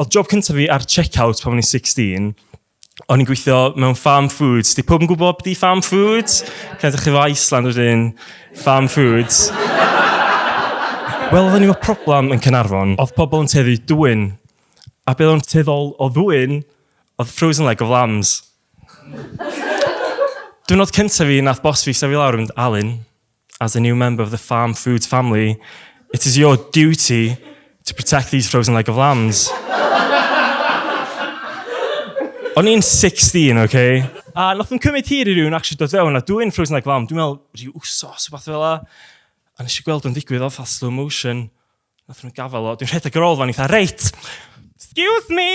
Oedd job cyntaf fi ar check-out pan o'n i'n 16. O'n i'n gweithio mewn farm foods. Di pob yn gwybod beth i farm foods? Cael chi fo Iceland wedyn, farm foods. Wel, oedden ni'n problem yn Cynarfon. Oedd pobl yn teddu dwy'n. A beth o'n teddol o ddwy'n, oedd frozen leg of lambs. Dwi'n oedd cyntaf fi, nath bos fi sefyll lawr yn mynd, Alun, as a new member of the farm foods family, it is your duty to protect these frozen leg of lambs. O'n i'n 16, oce? Okay? A nath nhw'n cymryd hir i rywun actually dod fewn a dwi'n frozen leg of lamb, dwi'n meddwl rhyw wsos o fath fel la. A nes i gweld o'n digwydd off a slow motion. Nath nhw'n gafael o, dwi'n rhedeg yr ôl fan eitha, reit, excuse me,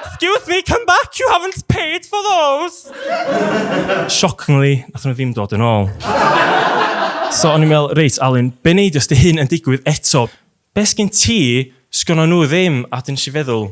excuse me, come back, you haven't paid for those. Shockingly, nath nhw ddim dod yn ôl. So o'n i'n meddwl, reit, Alun, be wneud os dy hyn yn digwydd eto? Beth gen ti, sgynno nhw ddim, a dyn si feddwl,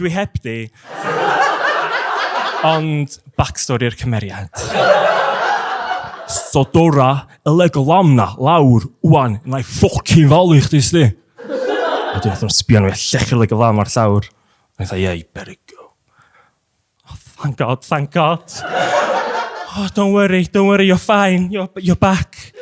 Dwi heb di. Ond backstory i'r cymeriad. So Dora, y lego lam na, lawr, wan, na i ffocin falu chdi sdi. A dwi'n atho sbio arno fi, llech y lego lam ar llawr. A dwi'n ie, you better go. Oh, thank God, thank God. oh, don't worry, don't worry, you're fine, you're, you're back.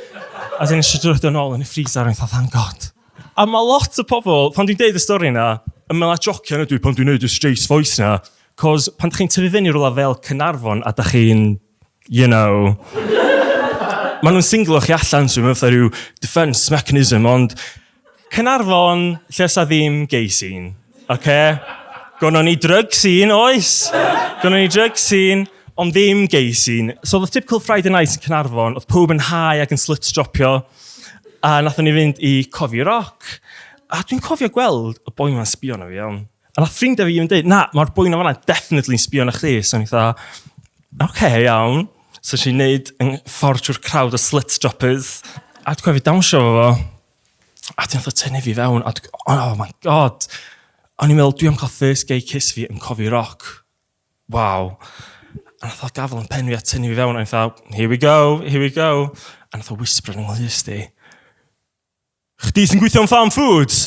A dyn eisiau drwy'r dyn ôl yn y freezer, yn thank God. A mae lot o pobl, pan dwi'n deud y stori yna, yn meddwl jocio yna dwi pan dwi'n neud y Jace voice yna, cos pan ydych chi'n tyfu fyny rhywle fel Cynarfon a ydych chi'n you know, maen nhw'n singlo chi allan, so mae'n fatha rhyw defence mechanism, ond Cynarfon, lle sa ddim gay scene, oce? Okay? Gynnon ni drug scene, oes? Gynnon ni drug scene, ond ddim gay scene. So oedd typical Friday night yn Cynarfon, oedd pob yn hau ac yn slut dropio, a nath ni fynd i Cofi Rock. A dwi'n cofio gweld y boi ma'n sbio na fi iawn. A nath ffrindiau fi yn dweud, na, mae'r bwyn o'n fanna definitely yn sbio na chdi. So ni'n dda, oce, okay, iawn. So si'n neud yn ffordd trwy'r crowd o slit droppers. A dwi'n cofio dawnsio fo fo. A dwi'n dda tynnu fi fewn. A dwi'n, oh my god. A ni'n meddwl, dwi'n cael first gay kiss fi yn cofi roc. Waw. A nath o gafel yn pen fi a tynnu fi fewn. A ni'n dda, here we go, here we go. A nath o whisper yn ymhlys di. Chdi sy'n gweithio yn Farm Foods?